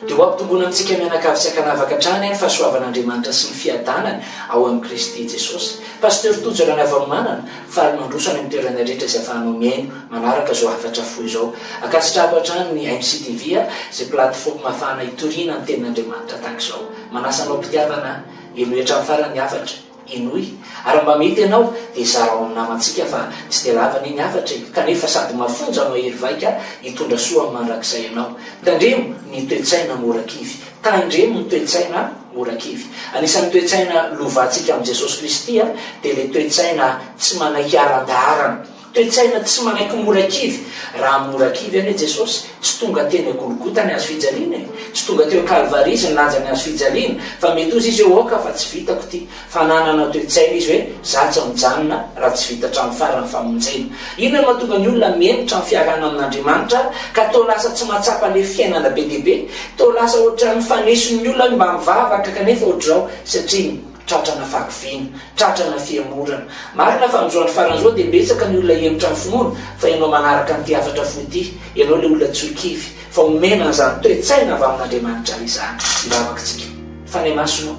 Dia ho ampitomboina amintsika mianakavy tsy ankanavaka hatrany ny fahasoavan'Andriamanitra sy ny fiadanany ao amin'i Kristy Jesosy. Pasteur Tojo Ranavalomanana, faly mandroso any amin'ny toerana rehetra izay afahanao mihaino manaraka izao hafatra fohy izao. Ankasitrahako hatrany ny MCTV a, izay plateforme ahafahana hitoriana ny tenin'Andriamanitra tahaka izao. Manasa anao am-pitiavana hialoha hatramin'ny farany ny hafatra. Henoy, ary mba mety ianao dia zarao amin'ny namantsika fa tsy dia lava anie ny hafatra e, kanefa sady mafonja no hahery vaika hitondra soa amin'ny mandrakizay ianao. Tandremo ny toe-tsaina mora kivy. Tandremo ny toe-tsaina mora kivy. Anisan'ny toe-tsaina lovantsika amin'i Jesosy Kristy dia ilay toe-tsaina tsy manaiky aran-daharana. Toe-tsaina tsy manaiky mora kivy. Raha mora kivy anie Jesosy, tsy tonga teny a Golgota ny hazo fijaliana e! Tsy tonga teo Kalvary Izy nilanja ny hazo fijaliana, fa mety hozy Izy hoe, Aoka fa tsy vitako ity. Fa nanana toe-tsaina Izy hoe, Za tsy mijanona raha tsy vita hatramin'ny farany ny famonjena. Inona no mahatonga ny olona mihemotra ny fiarahana amin'Andriamanitra ka toa lasa tsy mahatsapa ilay fiainana be dia be? Toa lasa ohatran'ny faneso ny olona hoe mba mivavaka kanefa ohatr'izao, satria ny. Tratrana fahakiviana, tratrana fihemorana. Marina fa amin'izao andro farany izao dia betsaka ny olona hihemotra ny finoana, fa ianao manaraka an'ity hafatra fohy ity, ianao ilay olona tsy ho kivy, fa omena an'izany toe-tsaina avy amin'Andriamanitra izany. Tsy lavaka isika. Fanahy Masina ô,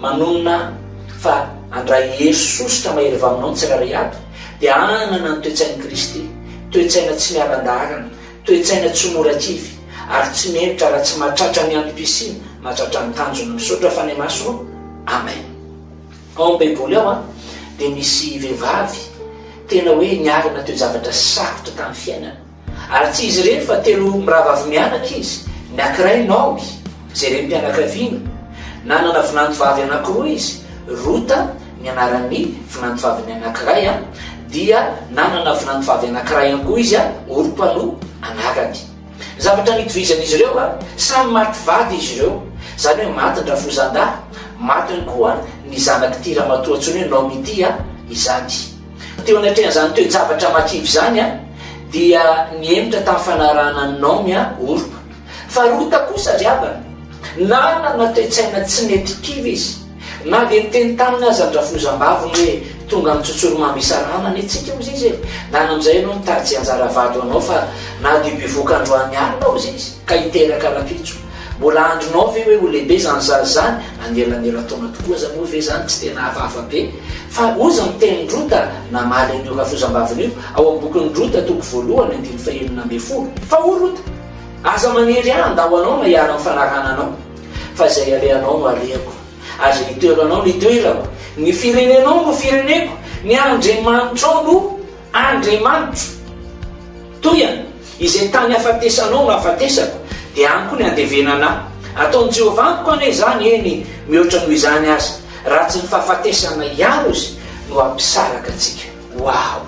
manonona fa handray hery sosotra mahery vaha aminao ny tsirairay avy, dia hanana ny toe-tsain'i Kristy, toe-tsaina tsy miala an-dalana, Toe-tsaina tsy mora kivy ary tsy mihevitra raha tsy mahatratra ny antom-pisiana mahatratra ny tanjony. Misaotra Fanemaso ô! Amen. Ao amin'ny Baiboly ao dia misy vehivavy tena hoe niarina toe-javatra sarotra tamin'ny fiainana. Ary tsy izy irery fa telo mirahavavy mianaka izy. Ny ankiray Naomy, Jerem-pianakaviana, Nanana vinantovavy anankiroa izy, Rota ny anaran'ny vinantovaviny anankiray, dia nanana vinantovavy anankiray ihany koa izy, Orpa no anarany. Ny zavatra nitovizan'izy ireo, samy maty vady izy ireo, izany hoe maty ny rafozan-dahy, maty ihany koa ny zanak'ity ramatoa antsoina hoe Naomy ity izany. Teo anatrehan'izany toe-javatra matsilo izany dia nihemotra tamin'ny fanarahana an'i Naomy Orpa. Faharoa ta kosa ry havana, nanana toe-tsaina tsy nety kivy izy. Na dia niteny taminy aza ny rafozambaviny hoe tonga amin'ny tsotsorimamy isarahana anie tsika hozy izy e! Nana amin'izay ianao nitady tsy anjara vady ho anao fa na dia bevoka androany alina hozy izy ka hiteraka rampitso. Mbola andrinao ve hoe ho lehibe izany zaza izany? Anelanelan-taona tokoa aza moa ve izany tsy tena hafahafa be? Fa hozy ny tenin'i Rota namaly an'io rafozambaviny io ao amin'ny bokin'i Rota toko voalohany andininy fahenina ambin'ny folo. Fa hoy Rota. Aza manery ahy handao anao na hiaro ny fanarana anao, fa izay alehanao no alehako, ary izay itoeranao no itoerako, ny firenenao no fireneko, ny Andriamanitrao no Andriamanitro. Toy an, izay tany hafatesanao no hafatesako, dia any koa ny handevenana ahy. Ataon'i Jehovah amiko anie izany, eny, mihoatra noho izany aza, raha tsy ny fahafatesana ihany ozy no hampisaraka antsika. Wow!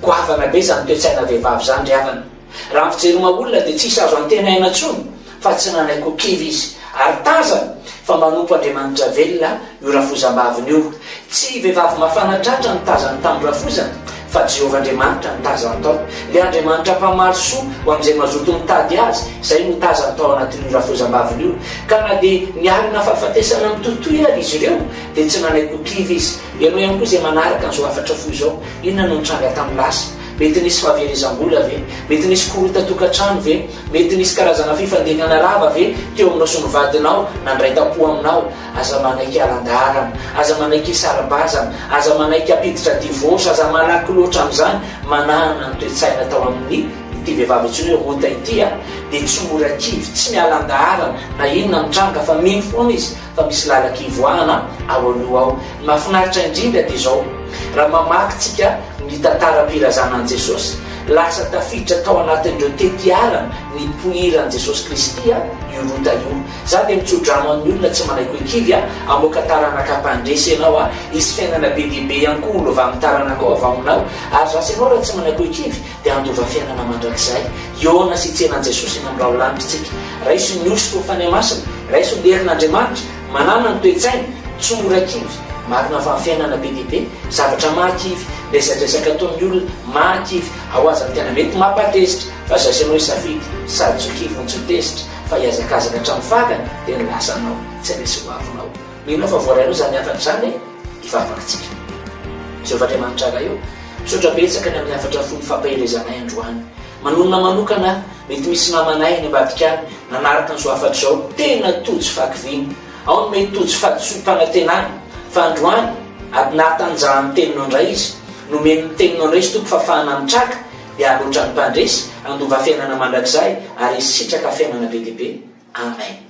Goavana be izany toe-tsaina vehivavy izany ry havana. Raha ny fijery maha olona dia tsisy azo antenaina intsony fa tsy nanaiky ho kivy izy ary tazany fa manompo Andriamanitra velona io rafozambaviny io. Tsy vehivavy mafana tratra no tazany tamin'ny rafozany fa Jehovah Andriamanitra no tazany tao. Ilay Andriamanitra mpamaly soa ho amin'izay mazoto mitady Azy, izay no tazany tao anatin'io rafozambaviny io. Ka na dia nialona fahafatesana mitohitohy ary izy ireo dia tsy nanaiky ho kivy izy. Ianao ihany koa izay manaraka an'izao hafatra fohy izao, inona no nitranga tamin'ny lasa? Mety nisy fahaverezam-bola ve? Mety nisy korotan-tokantrano ve? Mety nisy karazana fifandehana rava ve teo aminao sy ny vadinao nandray tampo aminao? Aza manaiky halan-dalana, aza manaiky hisara-bazana, aza manaiky hampiditra divorce, aza malaky loatra amin'izany, manahana ny toe-tsaina tao amin'ny ity vehivavy antsoina hoe Rota ity a! dia tsy mora kivy, tsy miala an-dalana na inona mitranga fa mino foana izy, fa misy lalaka ivoahana ao aloha ao. Ny mahafinaritra indrindra dia izao, raha mamaky tsika ny tantaram-pirazanan'i Jesosy, lasa tafiditra tao anatin'ireo tetiarana nipoiran'i Jesosy Kristy io Rota io. Za dia mitsodrano an'ny olona tsy manaiky hoe kivy hamoaka taranaka mpandresy ianao, hisy fiainana be dia be ihany koa ho lovan'ny taranakao avy ao aminao, ary zasa ianao raha tsy manaiky hoe kivy, dia handova fiainana mandrakizay. Hihaona sy hitsena an'i Jesosy eny amin'ny raholanitra isika. Raiso ny hosoka ho fanahy masina, raiso ny herin'Andriamanitra, manana ny toe-tsaina, tsy mora kivy. Marina fa ny fiainana be dia be zavatra maha kivy, resadresaka ataon'ny olona maha kivy, ao aza ny tena mety mampatezitra, fa zay sy anao hisafidy, sady tsy ho kivy no tsy ho tezitra, fa hihazakazaka hatramin'ny fagany dia ny lasanao tsy resy ho avinao. Mino aho fa voarainao izany hafatra izany e! Hivavahantsika. Jehovah Andriamanitra Ray ô, misaotra betsaka ny amin'ny hafatra fohy fampaherezanay androany. Manonona manokana aho, mety misy namanay any ambadika any nanaraka an'izao hafatra izao, tena tojo fahakiviana, ao ny mety tojo fahadisoam-panantenana, fa androany, ady nahatanjahan'ny Teninao indray izy, nomen'ny Teninao indray izy Tompo fahafahana mitraka, dia haloatra ny mpandresy, handova fiainana mandrakizay, ary hisitraka fiainana be dia be. Amen.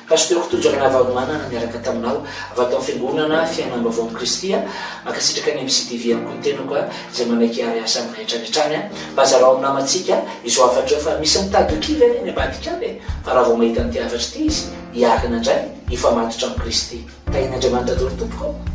Pasteur Tojo Ranavalomanana miaraka taminao avy ato amin'ny Fiangonana Fiainambaovaon'i Kristy a. Mankasitraka ny MCTV ihany koa ny tenako a, izay manaiky hiary asa aminay hatrany hatrany a. Mba zarao amin'ny namantsika izao hafatra io fa misy mitady ho kivy anie any ambadika any e. Fa raha vao mahita an'ity hafatra ity izy, hiarina indray, hifamatotra amin'i Kristy. Tahian'Andriamanitra daholo tompoko ô.